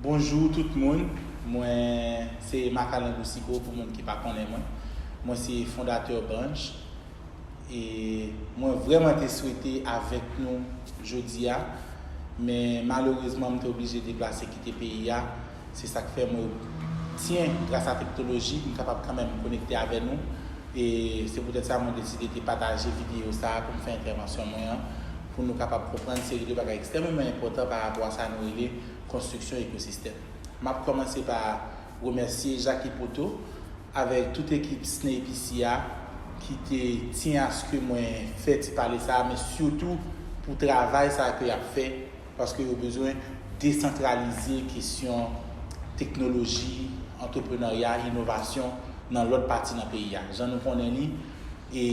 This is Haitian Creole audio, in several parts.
Bonjou tout moun, mwen se Makalangou Sigo pou moun ki pa konnen mwen. Mwen se fondatè Branch e mwen vrèman te swete avèk nou jodi a men malerezman m te oblije deplase kite peyi a Se sak fè mwen obtyen gras a tektoloji m kapab kanmenm konekte avè nou e se poutèt sa mwen deside te pataje videyo sa pou m fè entèvansyon mwen an pou nou kapab konprann seri de bagay ekstrèmeman enpòtan pa rapò a sa nou rele konstriksyon ekosistèm. M ap kòmanse pa remèsye Jacky Poteau avèk tout ekip SNEIPC a ki te tyen aske mwen fè ti pale sa a men sitou pou travay sa a ke y ap fè Paske yo bezwen desantralize kesyon teknoloji, antreprenarya, inovasyon nan lòt pati nan peyi a. Jan nou konnen li,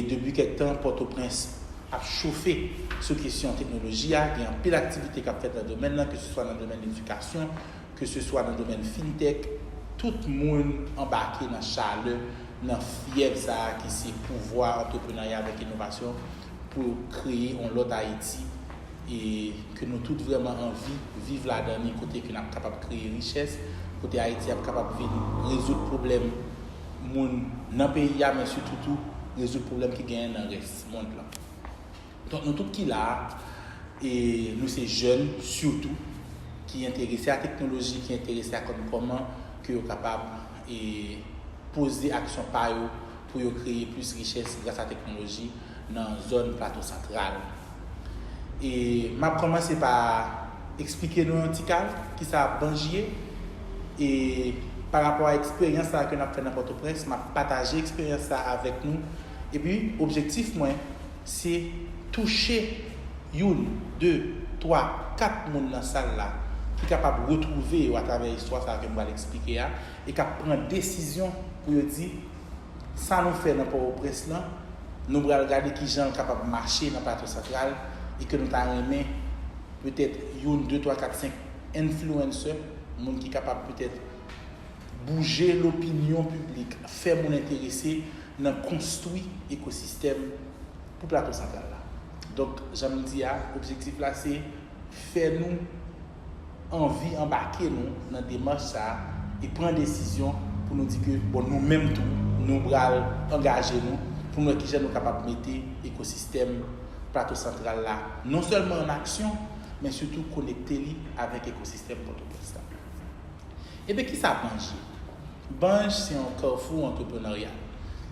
depi kèk tan Pòtoprens ap chofe sou kesyon teknoloji a. Gen anpil aktivite k ap fèt nan domèn nan, keseswa nan domèn edikasyon, keseswa nan domèn fintech. Tout moun anbake nan chalè, nan fyèv sa a ki se pouvwa antreprenarya avèk inovasyon. pou kreye yon lòt Ayiti e ke nou tout vrèman anvi viv ladan li kote ke nap kapab kreye richès, kote Ayiti ap kapab vin rezoud pwoblèm moun nan peyi a men sitou tou rezoud pwoblèm ki genyen nan rès mond lan. Donk nou tout ki la a e nou se jèn sitou ki enterese a teknoloji, ki enterese a konn kòman ke yo kapab e poze aksyon pa yo pou yo kreye plis richès gras a teknoloji nan zòn Plato Santral. E m ap kòmanse pa eksplike nou yon ti kal ki sa Banj ye e pa rapò a eksperyans sa ke n ap fè nan Pòtoprens, m ap pataje eksperyans sa avèk nou epi objektif mwen, Se touche youn, de, twa, kat moun nan sal la ki kapab retwouve yo atravè istwa sa a ke m pral eksplike a e k ap pran desizyon pou yo di, Sa nou fè nan Pòwoprens lan, nou pral gade ki jan l kapab mache nan Plato Santral e ke nou ta renmen petèt youn, de, twa, kat, senk influencers, moun ki kapab petèt bouje lopinyon piblik, fè moun enterese nan konstwi ekosistèm pou Plato Santral la. Donk, jan m di a, objektif la se fè nou anvi anbake nou nan demach sa a e pran desizyon pou nou di ke bon nou menm tou nou pral angaje nou pou nou wè kijan nou kapab mete ekosistèm Plato Santral la non sèlman an aksyon men sitou konekte li avèk ekosistèm Pòtoprens la. Ebyen kisa Banj ye? Banj se yon kafou antreprenarya.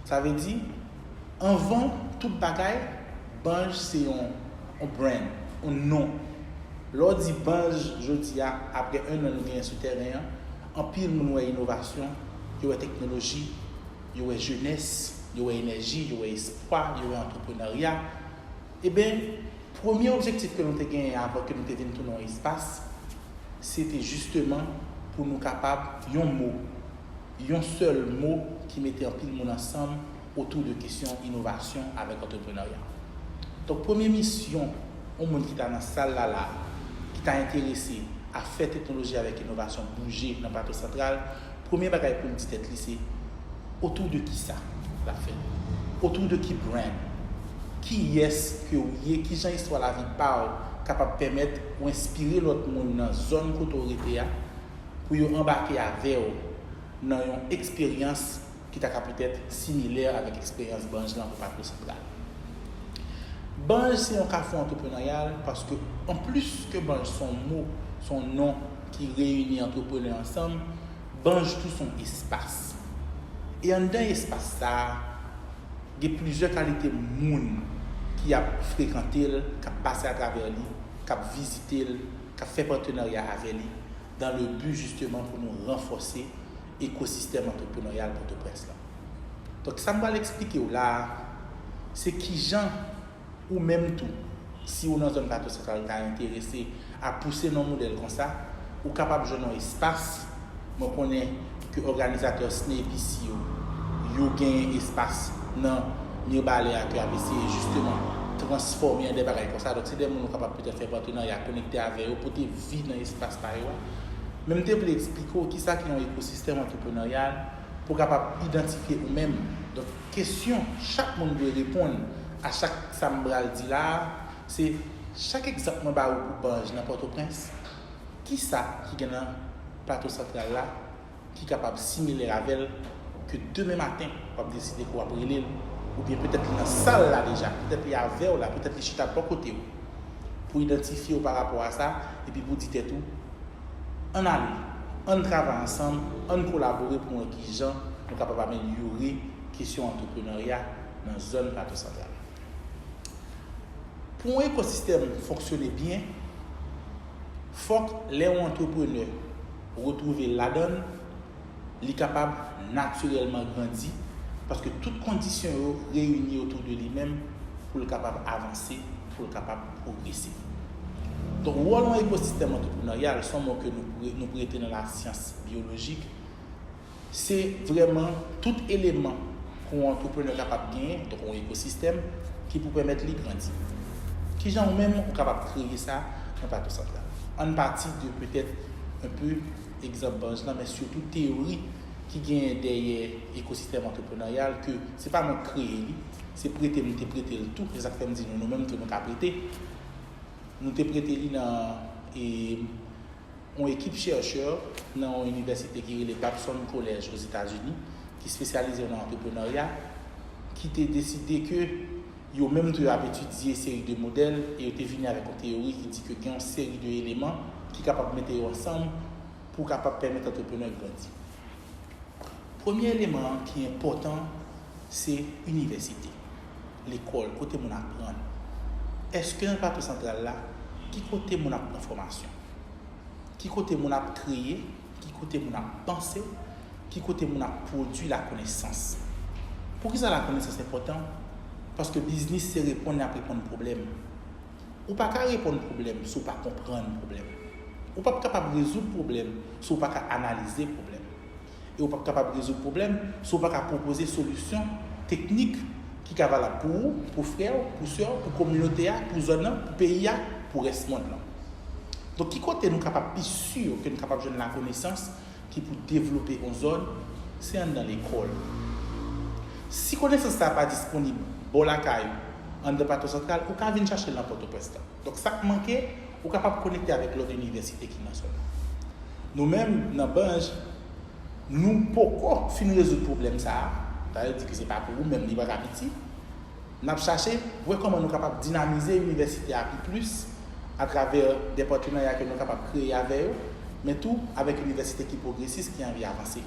Sa vle di, anvan tout bagay, Banj se yon brand, yon non. Lè w di Banj jodi a, aprè 1 an nou genyen sou tèren an, anpil moun wè inovasyon, yo wè teknoloji, yo wè jenès, yo wè enèji, yo wè espwa, yo wè antreprenarya, Eben, premye objektif ke nou te genyen avan ke nou te vin tounen yon espas, se te jisteman pou nou kapab yon mo, yon sèl mo ki mete anpil moun ansanm otou de kesyon inovasyon avèk antreprenarya. Donk premye misyon yon moun ki ta nan sal la la, ki ta enterese a fè teknoloji avèk inovasyon bouje nan Plato Santral, Premye bagay pou l di tèt li se, Otou de ki sa? l ap fè l. Otou de ki brand? Kiyès ke ou ye? Kijan istwa lavi pa w kapab pèmèt ou enspire lòt moun nan zòn kote w rete a pou yo anbake avè w nan yon eksperyans ki ta ka petèt similè avèk eksperyans Banj lan pou Patro Santral? Banj se yon kafou antreprenaryal paske anplis ke Banj son mo, son non, ki reyini antreprenè ansanm, Banj tou son espas. E anndan espas sa a, gen plizyè kalite moun ki ap frekante l, k ap pase atravè li, k ap vizite l, k ap fè patenarya avè li, dan le bi jisteman pou nou ranfòse ekosistèm antreprenoryal Pòtoprens lan. Donk sa m pral eksplike w la a, se kijan Ou menm tou, si ou nan zòn Plato Santral ta enterese a pouse nan modèl konsa, ou kapab jwenn yon espas, mwen konnen ke òganizatè SNEIPC yo, yo genyen espas nan Mirbalè a ke y ap eseye jisteman transfòme an de bagay konsa, donk se de moun ou kapab petèt fè patenarya, konekte avè yo, pote vi nan espas pa yo a. Men m te vle eksplike ou kisa ki yon ekosistèm antreprenaryal pou w kapab idantifye ou menm. Kesyon chak moun dwe reponn a chak sa m pral di la a, se, Chak egzanp mwen ba ou pou Banj nan Pòtoprens, ki sa ki gen nan Plato Santral la ki kapab similè avè l ke demen maten w ap deside ke w ap rele l, oubyen petèt li nan sal la deja, petèt li avè w la, petèt li chita bò kote w, pou idantifye w parapò a sa epi pou di tèt ou, Ann ale, ann travay ansanm, ann kolabore pou wè ki jan nou kapab amelyore kesyon antreprenarya nan zòn Plato Santral. Pou yon ekosistèm fonksyone byen, fòk lè yon antreprenè retwouve l ladan l, li kapab natirèlman grandi paske tout kondisyon yo reyini otou de li menm pou l kapab avanse, pou l kapab pwogrese. Donk, wòl yon ekosistèm antrepreneryal, s on mo ke nou prete nan lasyans byolojik, se vrèman tout eleman ke yon antreprenè kapab genyen, donk yon ekosistèm, ki pou pèmèt li grandi. Kijan ou menm ou kapab kreye sa nan Plato Santral? An n pati de petèt enpe. egzanp Barnes lan men sitou teyori ki genyen dèyè ekosistèm antreprenaryal ke se pa mwen ki kreye li, se prete nou te prete l tou, se sa k fè m di nou nou menm tou nou ka prete. Nou te prete li nan yon ekip chèrchè nan yon inivèsite ki rele Babson College Ozetazini ki spesyalize nan antreprenarya ki te deside ke Yo menm tou yo ap etidye seri de modèl e yo te vini avèk yon teyori ki di ke gen yon seri de eleman ki kapab mete yo ansanm pou kapab pèmèt antreprenè grandi. Premye eleman an ki enpòtan se inivèsite, lekòl, kote moun aprann. Eske nan Plato Santral la, ki kote moun ap pran fòmasyon? Ki kote moun ap kreye? Ki kote moun ap panse? Ki kote moun ap pwodui lakonesans? Poukisa lakonesans enpòtan? Paske biznis se reponn yap reponn pwoblèm. Ou pa ka reponn pwoblèm si w pa konprann pwoblèm. Ou pap kapab rezoud pwoblèm si w pa ka analize pwoblèm. E ou pap kapab rezoud pwoblèm si w pa ka pwopoze solisyon teknik ki ka valab pou ou, pou frè w, pou sè w, pou kominote a, pou zòn nan, pou peyi a, pou rès mond lan. Donk ki kote nou kapab pi sur ke nou kapab jwenn lakonesans ki pou devlope on zòn, se anndan lekòl. Si konesans sa a pa disponib bò lakay ou, anndan Patwon Santral, ou ka vin chache l nan Pòtoprens lan. Donk sa k manke, ou kapab konekte avèk lòt inivèsite ki nan zòn nan. Nou menm nan Banj, nou poko fin rezoud pwoblèm sa a, sa vle di ke se pa pou ou menm li pa ka piti, N ap chache pou wè kòman nou kapab dinamize inivèsite a pi plis atravè de patenarya ke nou kapab kreye avè yo, men tou avèk inivèsite ki pwogresis ki anvi avanse.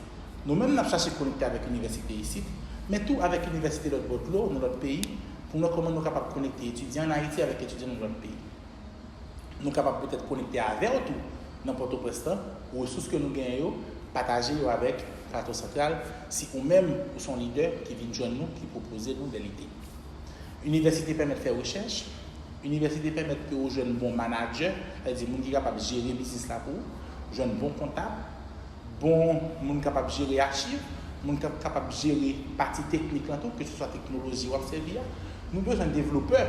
Nou menm n ap chache konekte avèk inivèsite isit, men tou avèk inivèsite lòt bò dlo, nan lòt peyi, pou n wè kòman nou kapab konekte etidyan an Ayiti avèk etidyan nan lòt peyi. Nou kapab petèt konekte avè w tou nan Pòtoprens lan, resous ke nou genyen yo, pataje yo avèk Plato Santral si ou menm ou son lidè ki vin jwenn nou ki pwopoze nou de lide. Inivèsite pèmèt fè rechèch, Inivèsite pèmèt ke ou jwenn bon manadjè, sa vle di moun ki kapab jere biznis la pou ou, jwenn bon kontab, Bon moun kapab jere achiv, moun kap kapab jere pati teknik lan tou, ke se swa teknoloji wap sèvi a. Nou bezwen devlopè,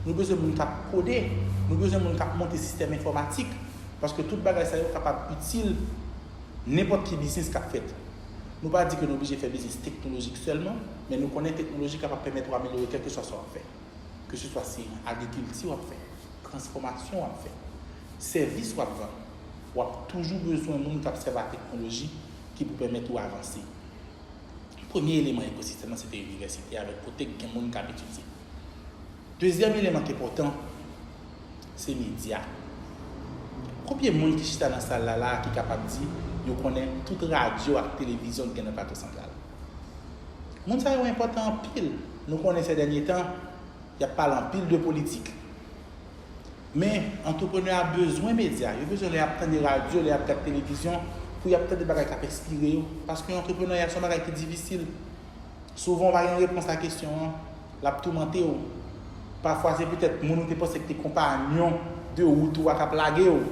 nou bezwen moun kap kode, nou bezwen moun kap monte sistèm enfòmatik, paske tout bagay sa yo kapab itil nenpòt ki biznis kap fèt. Nou pa di ke nou oblije fè biznis teknolojik sèlman, men nou konnen teknoloji kapab pèmèt ou amelyore kèlke swa sa wap fè. Ke se swa se agrikilti wap fè, transfòmasyon wap fè, sèvis wap vann. w ap toujou bezwen moun k ap sèvi ak teknoloji ki pou pèmèt ou avanse. Premye eleman ekosistèm nan se te inivèsite avèk kote k gen moun k ap etidye. Dezyèm eleman k enpòtan se medya. Konbyen moun ki chita nan sal la la a ki kapab di yo konnen tout radyo ak televizyon ki gen nan Plato Santral? Moun sa yo enpòtan anpil. Nou konnen sè dènye tan, y ap pale anpil de politik. Men, antreprenè a bezwen medya, yo bezwen lè y ap tande radyo, lè y ap gad televizyon, pou y ap tande bagay k ap enspire yo. Paske antreprenarya se yon bagay ki difisil. Souvan ou pa gen repons a kesyon an, l ap toumante ou. Pafwa se petèt moun ou te panse ki te konpanyon de wout ou a k ap lage ou.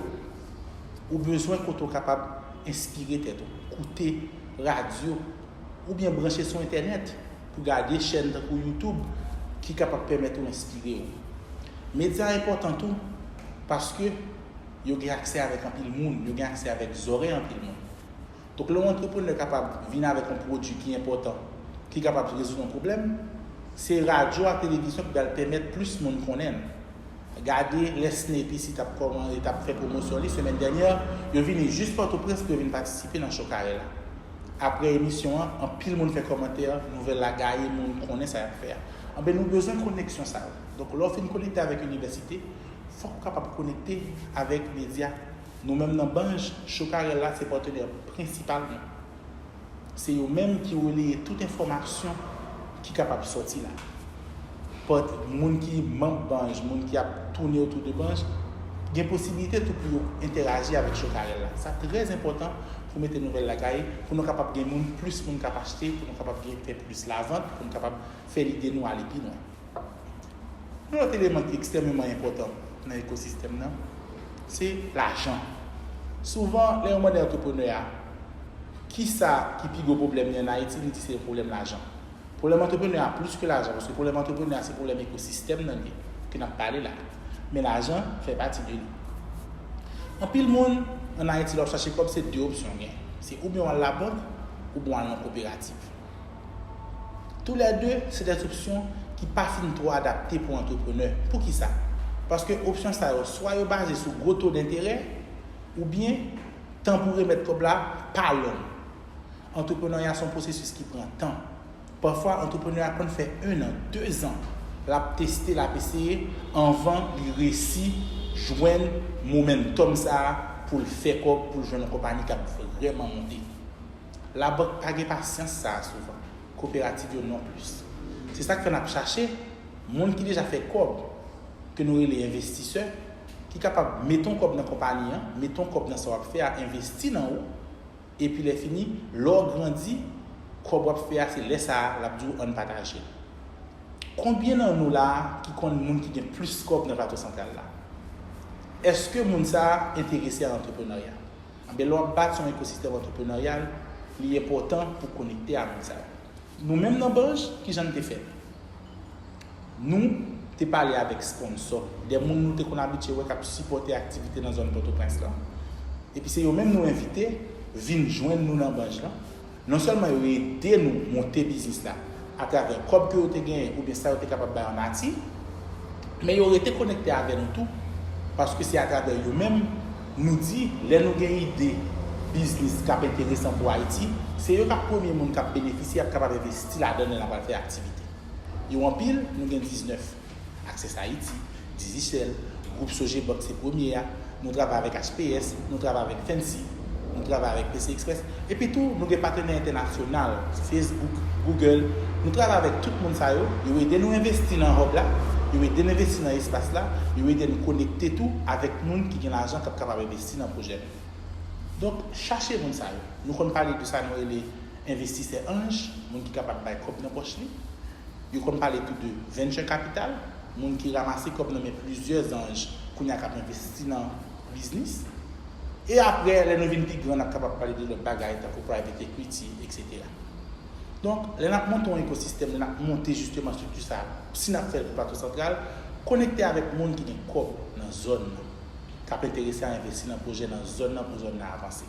Ou bezwen kote ou kapab enspire tèt ou, koute radyo, oubyen branche sou entènèt. Pou gade chèn tankou YouTube ki kapab pèmèt ou enspire ou. Medya enpòtan tou paske yo gen aksè avèk anpil moun, yo gen aksè avèk zòrèy anpil moun. Donk lè yon antreprenè kapab vin avèk yon pwodui ki enpòtan, ki kapab rezoud yon pwoblèm, se radyo ak televizyon ki pral pèmèt plis moun konnen l. Gade lè Snape isi t ap kòman e t ap fè pwomosyon li semèn dènyè, yo vini jis Pòtoprens pou yo vin patisipe nan Cho Kare la. Aprè emisyon an anpil moun fè kòmantè nouvèl la gaye moun konnen sa yap fè a anben nou bezwen koneksyon sa yo donk lè w fin konekte avèk inivèsite fòk ou kapab konekte avèk medya nou menm nan Banj Chokarel la se patenè prensipal nou se yo menm ki releye tout enfòmasyon ki kapab sòti la. moun ki manb Banj, moun ki ap toune otou de Banj, gen posibilite tou pou yo entèraji avèk Chokarel la. Sa trè zenpòtan pou mete nouvèl lakay, pou nou kapab gen moun, plis moun kap achte, pou nou kapab gen fè plis lavant, pou nou kapab fè lide nou ale pi lwen. Yon lòt eleman ki ekstrèmeman enpòtan nan ekosistèm nan, se lajan. Souvan, lè yon mande antreprenè a, kisa ki pi gwo pwoblèm li an Ayiti, li di se yon pwoblèm lajan. Pwoblèm antreprenè a plis ke lajan, paske pwoblèm antreprenè a se pwoblèm ekosistèm nan li ke nap pale la, men lajan fè pati de li. Anpil moun an Ayiti lè wap chache kòb se 2 opsyon w gen, se oubyen wal la bank oubyen wal nan koperativ. Tou lè 2 se des opsyon ki pa fin twò adapte pou antreprenè, poukisa? Paske opsyon sa yo swa yo baze sou gwo to denterè oubyen tan pou remèt kòb la pa long. Antreprenarya se yon pwosesis ki pran tan. Pafwa antreprenè a konn fè 1 an, 2 zan l ap teste, l ap eseye anvan li resi jwenn momentum sa a pou l fè kòb, pou l jwenn yon konpani k ap vrèman monte. Labank pa gen pasyans sa a souvan, koperativ yo non plis. Se sa k fè n ap chache moun ki deja fè kòb, ke nou rele envestisè, ki kapab mete yon kòb nan konpani an, mete yon kòb nan sa w ap fè a, envesti nan ou, Epi lè fini, lè w grandi, kòb w ap fè a se lè sa a l ap di w ann pataje l. Konbyen nan nou la a ki konn moun ki gen plis kòb nan Plato Santral la? Èske moun sa a enterese a antreprenarya? Anben lè w ap bati yon ekosistèm antreprenaryal, li enpòtan pou w konekte a moun sa yo. Nou menm nan Banj, ki jan n te fè l? Nou te pale avèk sponsò, de moun nou te konn abitye wè k ap sipòte aktivite nan zòn Pòtoprens lan. Epi se yo menm nou envite vin jwenn nou nan Banj lan. Non sèlman yo ede nou monte biznis la atravè kòb ke yo te genyen oubyen sa yo te kapab bay an nati, men yo rete konekte avè nou tou paske se atravè yo menm nou di lè nou gen ide biznis k ap enteresan pou Ayiti, se yo k ap premye moun k ap benefisye, ap kapab envesti ladan l lè n ap al fè aktivite. Yo anpil, nou gen 19. Access Haiti, Digicel, gwoup Sogebank se premye a, nou travay avèk HPS, nou travay avèk Fancy, nou travay avèk PC Express. Epi tou, nou gen patenè entènasyonal, Facebook, Google, nou travay avèk tout moun sa yo, yo ede nou envesti nan Hub la, yo ede n envesti nan espas la, yo ede n konekte tou avèk moun ki gen lajan k ap kapab envesti nan pwojè nou yo. Donk, chache moun sa yo. Nou konn pale de sa nou rele. Envestisè anj, moun ki kapab bay kòb nan pòch li. Yo konn pale tou de venture capital, moun ki ramase kòb nan men plizyè zanj kounye a k ap envesti nan biznis. E apre, lè nou vin pi gran, n ap kapab pale de lòt bagay tankou private equity, eksetera. Donk, lè n ap monte yon ekosistèm, lè n ap monte jisteman estrikti sa a, si n ap fè l pou Plato Santral, konekte avèk moun ki gen kòb nan zòn nan, k ap enterese a envesti nan pwojè nan zòn nan pou zòn nan avanse.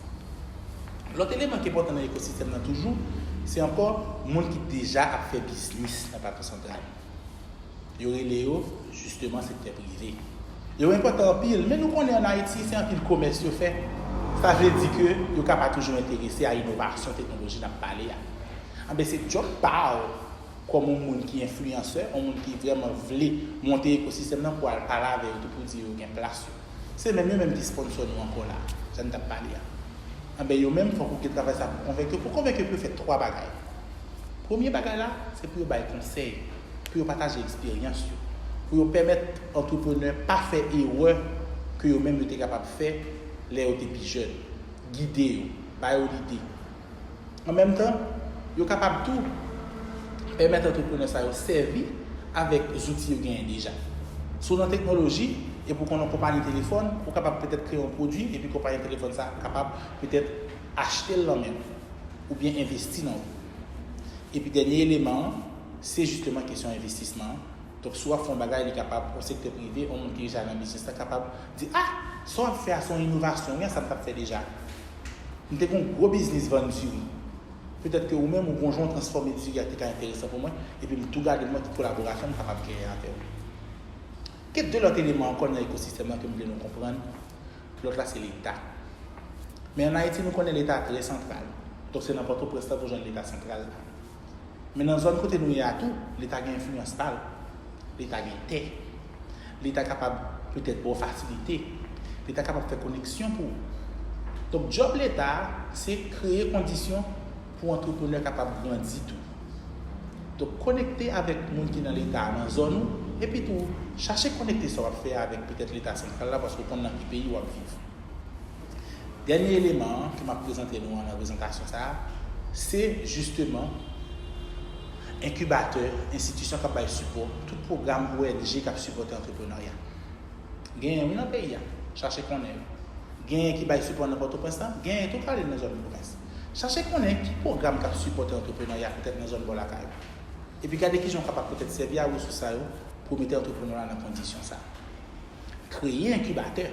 Lòt eleman ki enpòtan nan ekosistèm nan toujou, se ankò moun ki deja ap fè biznis nan Plato Santral. Yo rele yo, jisteman, sektè prive. Yo enpòtan anpil, men nou konnen an Ayiti, se anpil komès yo fè. Sa vle di ke yo ka pa toujou enterese a inovasyon teknoloji n ap pale a. Anben, se djòb pa w kòm yon moun ki enfliyansè, yon moun ki vrèman vle monte ekosistèm nan pou w al pale avè yo tou pou w di yo gen plas yo. Se menm yo menm ki sponsor nou ankò la, sa n t ap pale a. Anben yo menm fòk ou gen travay sa pou konvenk yo. Pou konvenk yo pou yo fè 3 bagay. Premye bagay la, se pou yo bay konsèy, pou yo pataje eksperyans yo, pou yo pèmèt antreprenè pa fè erè ke yo menm yo te kapab fè lè yo te pi jèn. Gide yo, ba yo lide. An menm tan, yo kapab tou pèmèt antreprenè sa yo sèvi avèk zouti yo genyen deja. Si w nan teknoloji epi w konn yon konpayi telefòn, ou kapab petèt kreye yon pwodui epi konpayi telefòn sa a kapab petèt achte l nan men w oubyen envesti nan ou. Epi dènye eleman an, se jisteman kesyon envestisman an. Donk si w ap fè yon bagay, li kapab yon sektè prive, yon moun ki deja nan biznis la kapab di, A! Sa w ap fè a se yon inovasyon wi a sa m t ap fè deja. M te gen yon gwo biznis vann diri. Petèt ke ou menm ou konjwen w transfòme diri a te ka enteresan pou mwen, epi m tou gade mwen ki kolaborasyon m kapab genyen avè w. Gen 2 lòt eleman ankò nan ekosistèm lan ke m vle nou konprann, lòt la se Leta. Men an Ayiti nou konnen Leta a trè santral, donk se nan Pòtoprens la pou jwenn Leta santral la. Men nan zòn kote nou ye a tou, leta gen enfliyans pa l. Leta gen tè. Leta kapab petèt ba w fasilite. Leta kapab fè koneksyon pou ou. Donk djòb leta a, se kreye kondisyon pou antreprenè kapab grandi tou. Donk konekte avèk moun ki nan leta a nan zòn ou, epitou chache konekte sa w ap fè a avèk petèt leta santral la paske w konn nan ki peyi w ap viv. Dènye eleman an ke m'ap prezante nou an nan prezantasyon sa a, se jisteman enkibatè, enstitisyon k'ap bay sipò, tout pwogram ONG k'ap sipòte antreprenarya. Genyen wi nan peyi a, chache konnen yo. Genyen ki bay sipò nan Pòtoprens la, genyen tou k'ale nan zòn pwovens. Chache konnen ki pwogram k'ap sipòte antreprenarya petèt nan zòn bò lakay ou. Epi gade kijan ou kapab petèt sèvi a resous sa yo pou w mete antreprenarya nan kondisyon sa. kreye enkibatè,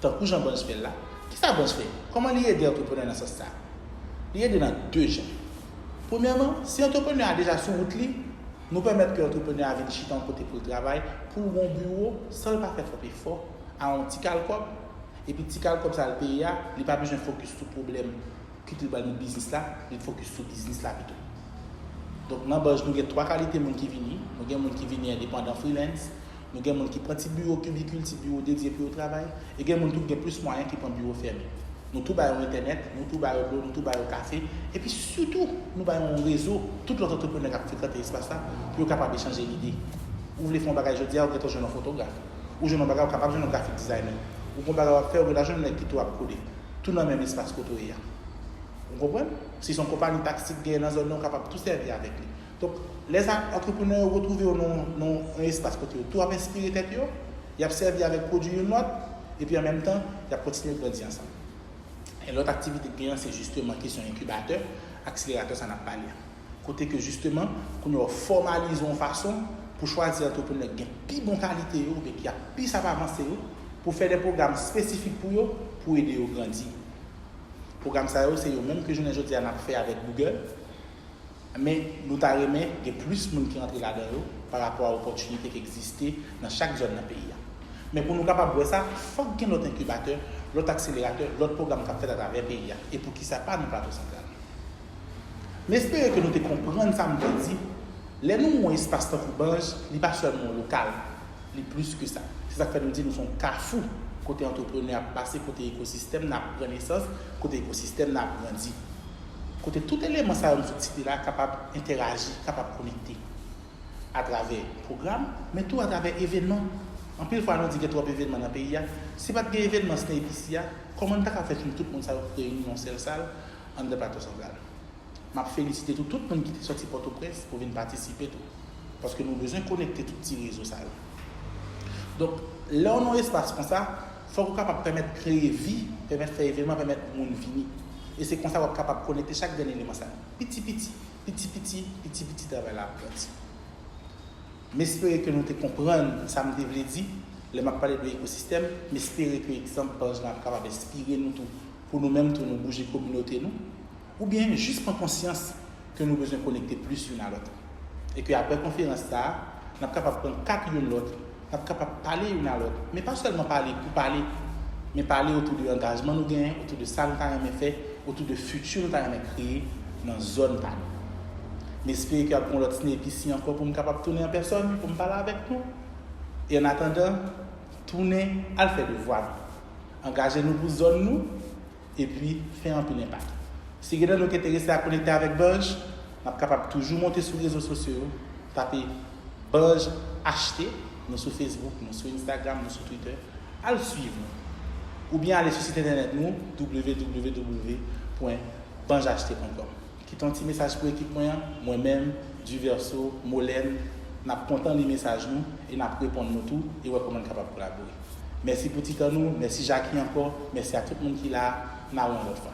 tankou jan Buzz fè l la. Kisa Buzz fè? Kòman li ede antreprenè nan sans sa? Li ede nan 2 jan. Premyèman, si antreprenè a deja sou wout li, nou pèmèt ke antreprenè a vin chita yon kote pou l travay, pou l gon biwo, san l pa fè twòp efò, a yon ti kal kòb, epi ti kal kòb sa l peye a, li pa bezwen fokis sou pwoblèm Kit li pral nan biznis la, li t fokis sou biznis la pito. Donk nan Buzz nou gen 3 kalite moun ki vini, nou gen moun ki vini endepandan, freelance, nou gen moun ki pran ti biwo kibikil, ti biwo dedye pou yo travay, e gen moun tou ki gen plis mwayen ki pran biwo fèmen. Nou tou ba yo entènèt, nou tou ba yo dlo, nou tou ba yo kafe, epi sitou nou ba yo yon rezo tout lòt antreprenè k ap frekante espas la pou yo kapab echanje lide. Ou vle fè yon bagay jodi a, ou gentan jwenn yon fotograf, ou jwenn yon bagay, ou kapab jwenn yon grafik dizayner, ou gen yon bagay w ap fè, ou gentan jwenn nèg ki tou ap kode. tou nan menm espas kote w ye a. Ou konprann? Si se yon konpani taksi ki genyen nan zòn nan, ou kapab tou sèvi avèk li. Donk, lè sa a, antreprenè yo retwouve yo nan yon espas kote yo tou ap enspire tèt yo, y ap sèvi avèk pwodui youn lòt, epi an menm tan, y ap kontinye grandi ansanm. E lòt aktivite k gen an se jisteman kesyon enkibatè, akseleratè sa n ap pale a. kote ke jisteman kounye a w fòmalize yon fason pou chwazi antreprenè ki gen pi bon kalite yo oubyen ki ap plis ap avanse yo pou fè de pwogram espesifik pou yo pou ede yo grandi. Pwogram sa yo se yo menm ke jounen jodi a n ap fè avèk Google men nou ta renmen gen plis moun ki rantre ladan yo pa rapò a opòtinite ki egziste nan chak zòn nan peyi a. Men pou nou kapab wè sa fòk gen lòt enkibatè, lòt akseleratè, lòt pwogram k ap fèt atravè peyi a e poukisa pa nan Plato Santral. M espere ke nou te konprann sa m vle di, lè nou wè yon espas tankou Banj, li pa sèlman yon lokal, li plis ke sa. Se sa k fè nou di nou se yon kafou kote antreprenè ap pase, kote ekosistèm nan ap pran nesans, kote ekosistèm nan ap grandi. Kote tout eleman sa yo m sot site la kapab entèraji, kapab konekte. Atravè pwogram, men tou atravè evènman. Anpil fwa nou di gen twòp evènman nan peyi a. Si pa t gen evènman Sne Epici a, kòman n ta ka fè finn tout moun sa yo reyini nan yon sèl sal? Andre Plato Santral. M ap felisite tou tout moun ki te sòti Pòtoprens pou vin patisipe tou. Paske nou bezwen konekte tout ti rezo sa yo. Donk, lè w nan yon espas konsa, fòk ou kapab pèmèt kreye vi, pèmèt fè evenman, pèmèt moun vini. E se konsa w ap kapab konekte chak grenn eleman sa yo. Piti piti, piti piti, piti piti travay la ap grandi. M espere ke nou te konprann sa m te vle di lè m ap pale de ekosistèm. M espere ke egzanp Panch lan ap kapab enspire nou tou pou nou menm tou nou bouje kominote nou, oubyen jis pran konsyans ke nou bezwen konekte plis youn a lòt. E ke aprè konferans sa a, n ap kapab pran kat youn lòt, n ap kapab pale youn a lòt, men pa sèlman pale pou pale, men pale otou de angajman nou genyen, otou de sa nou ta renmen fè, otou de fiti nou ta renmen kreye nan zòn pa nou. M espere ke ap gen yon lòt snap isi ankò pou m kapab tounen an pèsòn pou m pale avèk nou. E annatandan, tounen al fè devwa nou. Angaje nou pou zòn nou epi fè anpil enpak. Si gen nan nou ki enterese a konekte avèk Banj, n ap kapab toujou monte sou rezo sosyo yo, tape Banj HT, nou sou Facebook, nou sou Instagram, nou sou Twitter, al swiv nou. Oubyen ale sou sit entènèt nou www pwen banjht pwen kòm. Kite yon ti mesaj pou ekip mwen an, mwen menm, Duverseau, Molène, n ap kontan li mesaj nou e n ap reponn nou tou e wè kòman n kapab kolabore. Mèsi pou ti tan nou, mèsi Jackie ankò, mèsi a tout moun ki la a, n a wè yon lòt fwa.